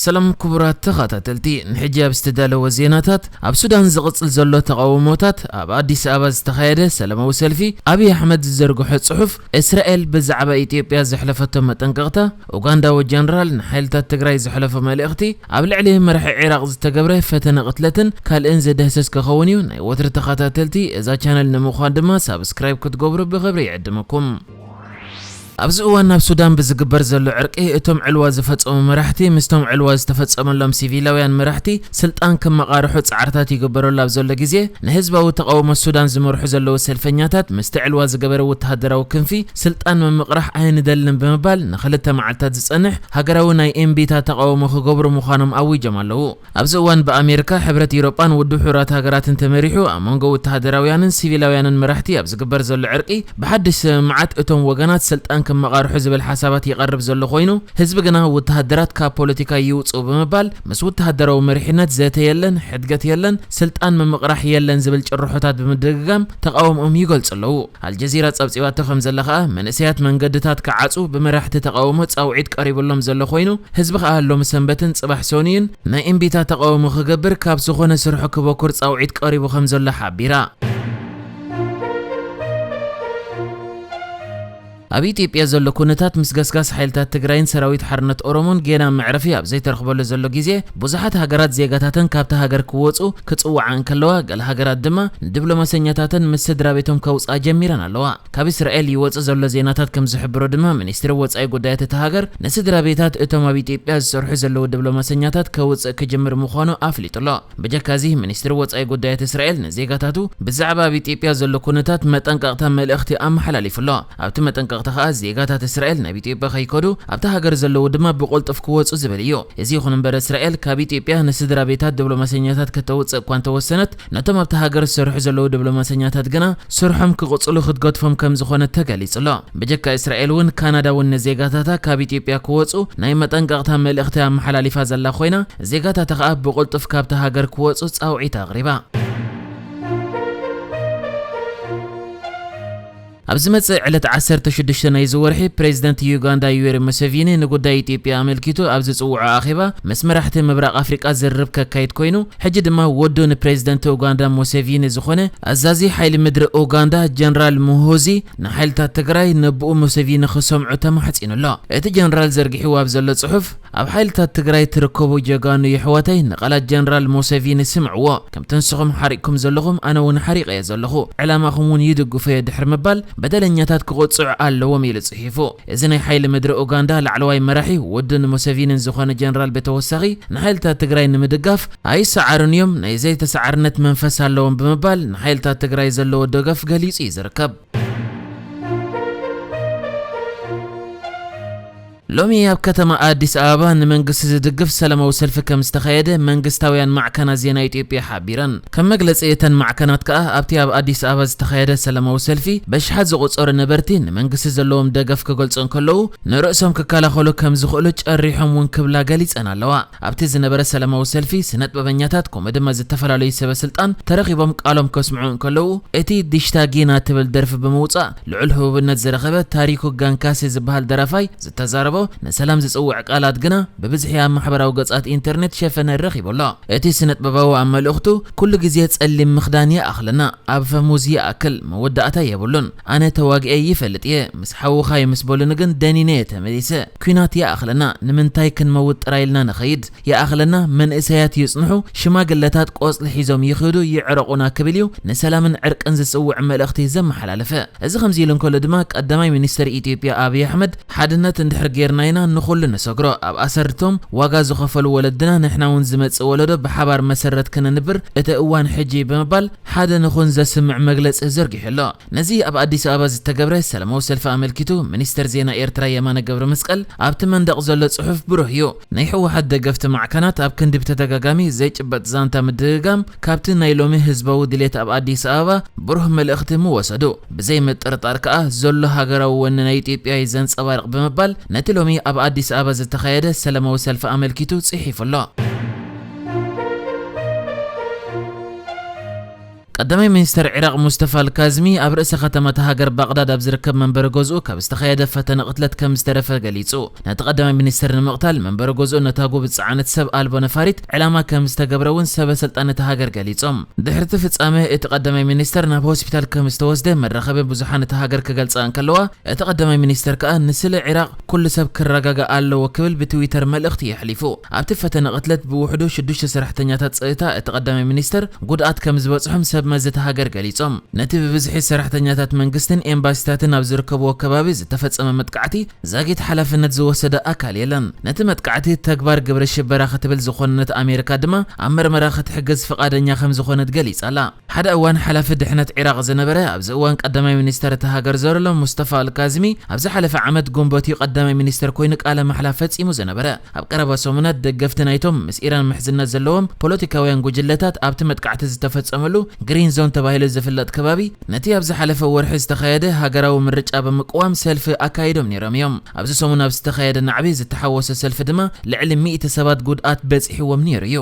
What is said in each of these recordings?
ሰላም ክቡራት ተኻታተልቲ ንሕጂ ኣብ ዝተዳለወ ዜናታት ኣብ ሱዳን ዝቕጽል ዘሎ ተቓውሞታት ኣብ ኣዲስ ኣበባ ዝተኻየደ ሰላማዊ ሰልፊ ኣብይ ኣሕመድ ዝዘርግሖ ጽሑፍ እስራኤል ብዛዕባ ኢትዮጵያ ዘሕለፈቶ መጠንቀቕታ ኡጋንዳዊ ጀነራል ንሓይልታት ትግራይ ዘሕለፎ መልእኽቲ ኣብ ልዕሊ መራሒ ዒራቕ ዝተገብረ ፈተነ ቅትለትን ካልእን ዝድህሰስ ክኸውን እዩ ናይ ወትሪ ተኻታተልቲ እዛ ቻነል ንምዃን ድማ ሳብስክራይብ ክትገብሩ ብኽብሪ ይዕድመኩም። ኣብዚ እዋን ኣብ ሱዳን ብዝግበር ዘሎ ዕርቂ እቶም ዕልዋ ዝፈጸሙ መራሕቲ ምስቶም ዕልዋ ዝተፈጸመሎም ሲቪላውያን መራሕቲ ስልጣን ክመቓርሑ ጻዕርታት ይግበረሉ ኣብ ዘሎ ግዜ ንህዝባዊ ተቓውሞ ሱዳን ዝመርሑ ዘለዉ ሰልፈኛታት ምስቲ ዕልዋ ዝገበረ ወተሃደራዊ ክንፊ ስልጣን ምምቕራሕ ኣይንደልን ብምባል ንኽልተ መዓልታት ዝጸንሕ ሃገራዊ ናይ እምቢታ ተቓውሞ ክገብሩ ምዃኖም ኣዊጆም ኣለዉ። ኣብዚ እዋን ብኣሜርካ፣ ሕብረት ኢሮጳን ውድብ ሕቡራት ሃገራትን ተመሪሑ ኣብ መንጎ ውተሃደራውያንን ሲቪላውያንን መራሕቲ ኣብ ዝግበር ዘሎ ዕርቂ ብሓድሽ ሰምምዓት እቶም ወገናት ስልጣን ክመቓርሑ ዝብል ሓሳባት ይቐርብ ዘሎ ኮይኑ ህዝቢ ግና ውተሃደራት ካብ ፖለቲካ ይውጽኡ ብምባል ምስ ውተሃደራዊ መሪሕነት ዘተ የለን፣ ሕድገት የለን፣ ስልጣን ምምቕራሕ የለን ዝብል ጭርሖታት ብምድግጋም ተቓውምኦም ይገልጹ ኣለዉ። ኣልጀዚራ ጸብጺባቶ ከምዘላ ከኣ፣ መንእሰያት መንገድታት ክዓጹ ብመራሕቲ ተቓውሞ ጻውዒት ቀሪብሎም ዘሎ ኮይኑ፣ ህዝቢ ከኣ ሎሚ ሰንበትን ጽባሕ ሶኑይን ናይ እምቢታ ተቓውሞ ክገብር ካብ ዝኾነ ስርሑ ክበኩር ጻውዒት ቀሪቡ ከምዘሎ ሓቢራ። ኣብ ኢትዮጵያ ዘሎ ኩነታት ምስ ገስጋስ ሓይልታት ትግራይን ሰራዊት ሓርነት ኦሮሞን ጌና መዕረፊ ኣብ ዘይተረኽበሉ ዘሎ ግዜ፣ ብዙሓት ሃገራት ዜጋታተን ካብታ ሃገር ክወጹ ክጽውዓ እንከለዋ፣ ገለ ሃገራት ድማ ንድብሎማሰኛታተን ምስ ስድራቤቶም ከውጽኣ ጀሚረን ኣለዋ። ካብ እስራኤል ይወጽእ ዘሎ ዜናታት ከም ዝሕብሮ ድማ ሚኒስትሪ ወጻኢ ጉዳያት እታ ሃገር ንስድራቤታት እቶም ኣብ ኢትዮጵያ ዝሰርሑ ዘለዉ ድብሎማሰኛታት ከውጽእ ክጅምር ምዃኑ ኣፍሊጡ ኣሎ። በጀካዚ ሚኒስትሪ ወጻኢ ጉዳያት እስራኤል ንዜጋታቱ ብዛዕባ ኣብ ኢትዮጵያ ዘሎ ኩነታት መጠንቀቕታ መልእኽቲ ኣመሓላሊፉ ኣሎ። ኣብቲ መጠንቀቕታ ከኣ ዜጋታት እስራኤል ናብ ኢትዮጵያ ከይከዱ፣ ኣብታ ሃገር ዘለዉ ድማ ብቕልጡፍ ክወጹ ዝብል እዩ። እዚ ይኹን እምበር እስራኤል ካብ ኢትዮጵያ ንስድራቤታት ድብሎማሰኛታት ከተውጽእ እኳ እንተወሰነት፣ ነቶም ኣብታ ሃገር ዝሰርሑ ዘለዉ ድብሎማሰኛታት ግና ስርሖም ክቕጽሉ ክትገድፎም ከምዝኾነት ተገሊጹ ኣሎ። ብጀካ እስራኤል እውን ካናዳ እውን ንዜጋታታ ካብ ኢትዮጵያ ክወጹ ናይ መጠንቀቕታ መልእኽቲ ኣመሓላሊፋ ዘላ ኮይና፣ ዜጋታታ ከኣ ብቕልጡፍ ካብታ ሃገር ክወጹ ጻውዒት ኣቕሪባ። ኣብ ዝመጽእ ዕለት ዓሰርተ ሽዱሽተ ናይዚ ወርሒ፣ ፕረዚደንት ዩጋንዳ ዩዌሪ ሙሰቪኒ ንጉዳይ ኢትዮጵያ ኣመልኪቱ ኣብ ዝጽውዖ ኣኼባ ምስ መራሕቲ ምብራቕ ኣፍሪቃ ዝርርብ ከካይድ ኮይኑ፣ ሕጂ ድማ ወዱ ንፕረዚደንት ኡጋንዳ ሙሰቪኒ ዝኾነ ኣዛዚ ሓይሊ ምድሪ ኡጋንዳ ጀነራል ሙሆዚ ንሓይልታት ትግራይ ነቡኡ ሙሰቪኒ ክሰምዑ ተማሕጺኑ ኣሎ። እቲ ጀነራል ዘርጊሕዎ ኣብ ዘሎ ጽሑፍ፣ ኣብ ሓይልታት ትግራይ ትርከቡ ጀጋኑ የሕዋተይ ንቓላት ጀነራል ሞሰቪኒ ስምዕዎ ከምቲ ንስኹም ሓሪቕኩም ዘለኹም ኣነ ውን ሓሪቐዮ ዘለኹ ዕላማኹም ውን ይድግፎዮ ድሕሪ ምባል በደለኛታት ክቕጽዑ ኣለዎም ኢሉ ጽሒፉ እዚ ናይ ሓይሊ ምድሪ ኡጋንዳ ላዕለዋይ መራሒ ወዱን ሞሰቪኒን ዝኾነ ጀነራል ብተወሳኺ ንሓይልታት ትግራይ ንምድጋፍ ኣይሰዓሩን እዮም ናይ ዘይተሰዓርነት መንፈስ ኣለዎም ብምባል ንሓይልታት ትግራይ ዘለዎ ደገፍ ገሊጹ እዩ ዝርከብ። ሎሚ ኣብ ከተማ ኣዲስ ኣበባ ንመንግስቲ ዝድግፍ ሰላማዊ ሰልፊ ከም ዝተኻየደ መንግስታውያን ማዕከናት ዜና ኢትዮጵያ ሓቢረን። ከም መግለጺ እተን ማዕከናት ከኣ ኣብቲ ኣብ ኣዲስ ኣበባ ዝተኻየደ ሰላማዊ ሰልፊ በሽሓት ዝቑጸሩ ነበርቲ ንመንግስቲ ዘለዎም ደገፍ ክገልጹ እንከለዉ ንርእሶም ክከላኸሉ ከም ዝኽእሉ ጨሪሖም እውን ክብላ ገሊጸን ኣለዋ። ኣብቲ ዝነበረ ሰላማዊ ሰልፊ ስነጥበበኛታት ከምኡ ድማ ዝተፈላለዩ ሰበ ስልጣን ተረኺቦም ቃሎም ከስምዑ እንከለዉ እቲ ዲሽታ ጊና ትብል ደርፊ ብምውጻእ ልዑል ህቡብነት ዝረኸበ ታሪኩ ጋንካሴ ዝበሃል ደራፋይ ዝተዛረቦ ንሰላም ዝጽውዕ ቃላት ግና ብብዝሒ ኣብ ማሕበራዊ ገጻት ኢንተርኔት ሸፈነ ረኺቡ ኣሎ። እቲ ስነጥበባዊ ኣብ መልእኽቱ ኩሉ ግዜ ጸሊም ምኽዳን ይኣኽለና፣ ኣብ ፈሙዝ ይኣክል፣ መወዳእታ የብሉን፣ ኣነ ተዋጊኤ ይፈልጥ እየ ምስ ሓውካ ምስ በሉኒ ግን ደኒነ እየ ተመሊሰ ኩናት ይኣክለና ንምንታይ ክንመውት ጥራይ ኢልና ንከይድ ይኣክለና መንእሰያት ይጽንሑ ሽማግለታት ቆጽሊ ሒዞም ይክዱ ይዕረቁና ክብል እዩ ንሰላምን ዕርቅን ዝጽውዕ መልእክቲ ዘመሓላለፈ እዚ ከምዚ ኢሉ እንከሎ ድማ ቀዳማይ ሚኒስተር ኢትዮጵያ ኣብይ ኣሕመድ ሓድነት እንድሕር ጌርና ኢና ንኩሉ ንሰግሮ ኣብ ኣሰር እቶም ዋጋ ዝከፈሉ ወለድና ንሕና ውን ዝመጽእ ወለዶ ብሓባር መሰረት ክነንብር እቲ እዋን ሕጂ እዩ ብምባል ሓደ ንኹን ዘስምዕ መግለጺ ዘርጊሑ ኣሎ። ነዚ ኣብ ኣዲስ ኣበባ ዝተገብረ ሰላማዊ ሰልፊ ኣመልኪቱ ሚኒስተር ዜና ኤርትራ የማነ ገብረመስቀል ኣብቲ መንደቕ ዘሎ ጽሑፍ ብሩህ እዩ፣ ናይ ህወሓት ደገፍቲ ማዕከናት ኣብ ክንዲ ብተደጋጋሚ ዘይጭበጥ ዛንታ ምድግጋም ካብቲ ናይ ሎሚ ህዝባዊ ድሌት ኣብ ኣዲስ ኣበባ ብሩህ መልእኽቲ ምወሰዱ። ብዘይ ምጥርጣር ከኣ ዘሎ ሃገራዊ ወኒ ናይ ኢትዮጵያ እዩ ዘንጸባርቕ ብምባል ነቲ ሎሚ ኣብ ኣዲስ ኣበባ ዝተኻየደ ሰላማዊ ሰልፊ ኣመልኪቱ ጽሒፉ ኣሎ። ቀዳማይ ሚኒስተር ዒራቕ ሙስተፋ ኣልካዝሚ ኣብ ርእሰ ከተማ እታ ሃገር ባቕዳድ ኣብ ዝርከብ መንበሪ ገዝኡ ካብ ዝተኻየደ ፈተነ ቅትለት ከም ዝተረፈ ገሊጹ። ነቲ ቀዳማይ ሚኒስተር ንምቕታል መንበሪ ገዝኡ ነታጕ ብዝጸዓነት ሰብ ኣልቦ ነፋሪት ዕላማ ከም ዝተገብረ እውን ሰበ ስልጣን እታ ሃገር ገሊጾም። ድሕሪ እቲ ፍጻመ እቲ ቀዳማይ ሚኒስተር ናብ ሆስፒታል ከም ዝተወስደ መራኸቢ ብዙሓን እታ ሃገር ክገልጻ እንከለዋ፣ እቲ ቀዳማይ ሚኒስተር ከኣ ንስለ ዒራቕ ኩሉ ሰብ ክረጋጋእ ኣለዎ ክብል ብትዊተር መልእኽቲ የሕሊፉ። ኣብቲ ፈተነ ቅትለት ብውሕዱ ሽዱሽተ ሰራሕተኛታት ጸጥታ እቲ ቀዳማይ ሚኒስተር ጉድኣት ከም ዝበጽሖም ሰብ መዚ እታ ሃገር ገሊጾም። ነቲ ብብዝሒ ሰራሕተኛታት መንግስትን ኤምባሲታትን ኣብ ዝርከብዎ ከባቢ ዝተፈጸመ መጥቃዕቲ ዛጊት ሓላፍነት ዝወሰደ ኣካል የለን። ነቲ መጥቃዕቲ ተግባር ግብረ ሽበራ ክትብል ዝኾነነት ኣሜሪካ ድማ ኣብ መርመራ ክትሕግዝ ፍቓደኛ ከም ዝኾነት ገሊጻ'ላ። ሓደ እዋን ሓላፊ ድሕነት ዒራቕ ዝነበረ፣ ኣብዚ እዋን ቀዳማይ ሚኒስተር እታ ሃገር ዘርሎ ሙስጠፋ ኣልካዝሚ፣ ኣብ ዝሓለፈ ዓመት ግንቦት'ዩ ቀዳማይ ሚኒስተር ኮይኑ ቃለ ማሕላ ፈጺሙ ዝነበረ። ኣብ ቀረባ ሰሙናት ደገፍቲ ናይቶም ምስ ኢራን ምሕዝነት ዘለዎም ፖለቲካውያን ጉጅለታት ኣብቲ መጥቃዕቲ ዝተፈጸመሉ ግሪን ዞን ተባሂሉ ዝፍለጥ ከባቢ ነቲ ኣብ ዝሓለፈ ወርሒ ዝተኻየደ ሃገራዊ ምርጫ ብምቅዋም ሰልፊ ኣካይዶም ነይሮም'ዮም። ኣብዚ ሰሙን ኣብ ዝተኻየደ ናዕቢ ዝተሓወሶ ሰልፊ ድማ ልዕሊ ሚእቲ ሰባት ጉድኣት በጺሕዎም ነይሩ'ዩ።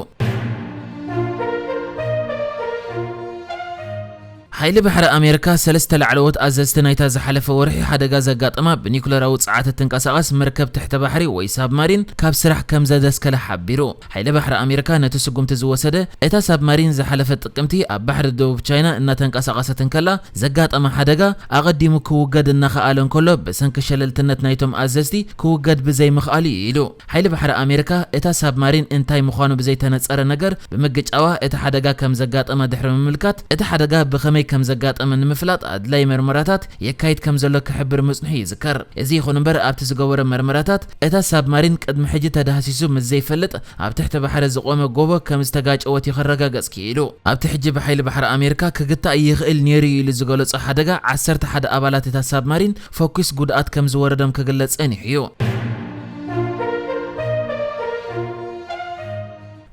ሓይሊ ባሕሪ ኣሜሪካ፣ ሰለስተ ላዕለዎት ኣዘዝቲ ናይታ ዝሓለፈ ወርሒ ሓደጋ ዘጋጠማ ብኒዩክለራዊ ጸዓት እትንቀሳቐስ መርከብ ትሕተ ባሕሪ ወይ ሳብማሪን ካብ ስራሕ ከምዘደስከላ ሓቢሩ። ሓይሊ ባሕሪ ኣሜሪካ ነቲ ስጉምቲ ዝወሰደ፣ እታ ሳብማሪን ዝሓለፈ ጥቅምቲ ኣብ ባሕሪ ደቡብ ቻይና እናተንቀሳቐሰት እንከላ ዘጋጠማ ሓደጋ ኣቐዲሙ ክውገድ እናኸኣለ እንከሎ ብሰንኪ ሸለልትነት ናይቶም ኣዘዝቲ ክውገድ ብዘይምኽኣሉ'ዩ ኢሉ። ሓይሊ ባሕሪ ኣሜሪካ፣ እታ ሳብማሪን እንታይ ምዃኑ ብዘይተነጸረ ነገር ብምግጫዋ እቲ ሓደጋ ከም ዘጋጠማ ድሕሪ ምምልካት፣ እቲ ሓደጋ ብኸመይ ከም ዘጋጠመ ንምፍላጥ ኣድላዪ መርመራታት የካይድ ከም ዘሎ ክሕብር ምጽንሑ ይዝከር። እዚ ይኹን እምበር ኣብቲ ዝገበሮ መርመራታት፣ እታ ሳብማሪን ቅድሚ ሕጂ ተዳህሲሱ ምስ ዘይፈልጥ ኣብ ትሕቲ ባሕሪ ዝቖመ ጎቦ ከም ዝተጋጨወት እዩ ከረጋገጽ ክኢሉ። ኣብቲ ሕጂ ብሓይሊ ባሕሪ ኣሜሪካ ክግታእ ይኽእል ነይሩ'ዩ ኢሉ ዝገለጾ ሓደጋ፣ ዓሰርተ ሓደ ኣባላት እታ ሳብማሪን ፈኲስ ጉድኣት ከም ዝወረዶም ክግለጽ ጸኒሑ እዩ።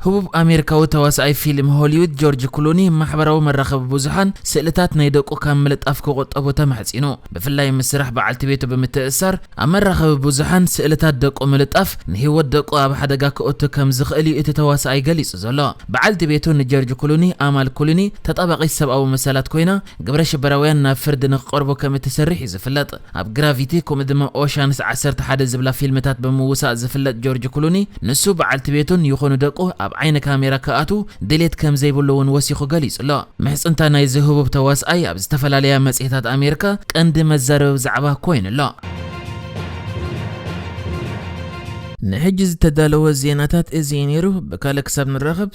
ህቡብ ኣሜሪካዊ ተዋሳኣይ ፊልም ሆሊውድ ጆርጅ ክሉኒ ማሕበራዊ መራኸቢ ብዙሓን ስእልታት ናይ ደቁ ካብ ምልጣፍ ክቑጠቡ ተማሕጺኑ። ብፍላይ ምስ ስራሕ በዓልቲ ቤቱ ብምትእስሳር ኣብ መራኸቢ ብዙሓን ስእልታት ደቁ ምልጣፍ ንህይወት ደቁ ኣብ ሓደጋ ከእቱ ከም ዝኽእል እዩ እቲ ተዋሳኣይ ገሊጹ ዘሎ። በዓልቲ ቤቱ ንጀርጅ ክሉኒ ኣማል ክሉኒ ተጣባቒት ሰብኣዊ መሰላት ኮይና ግብረ ሽበራውያን ናብ ፍርዲ ንክቐርቡ ከም እትሰርሕ እዩ ዝፍለጥ። ኣብ ግራቪቲ ከምኡ ድማ ኦሻንስ ዓሰርተ ሓደ ዝብላ ፊልምታት ብምውሳእ ዝፍለጥ ጆርጅ ክሉኒ፣ ንሱ፣ በዓልቲ ቤቱን ይኹኑ ደቁ ኣብ ዓይኒ ካሜራ ክኣትዉ ድሌት ከም ዘይብሉ እውን ወሲኹ ገሊጹ ኣሎ። ምሕጽንታ ናይዚ ህቡብ ተዋስኣይ ኣብ ዝተፈላለያ መጽሔታት ኣሜሪካ ቀንዲ መዛረቢ ዛዕባ ኮይኑ ኣሎ። ንሕጂ ዝተዳለወ ዜናታት እዚ እዩ ነይሩ። ብካልእ ክሳብ ንራኸብ!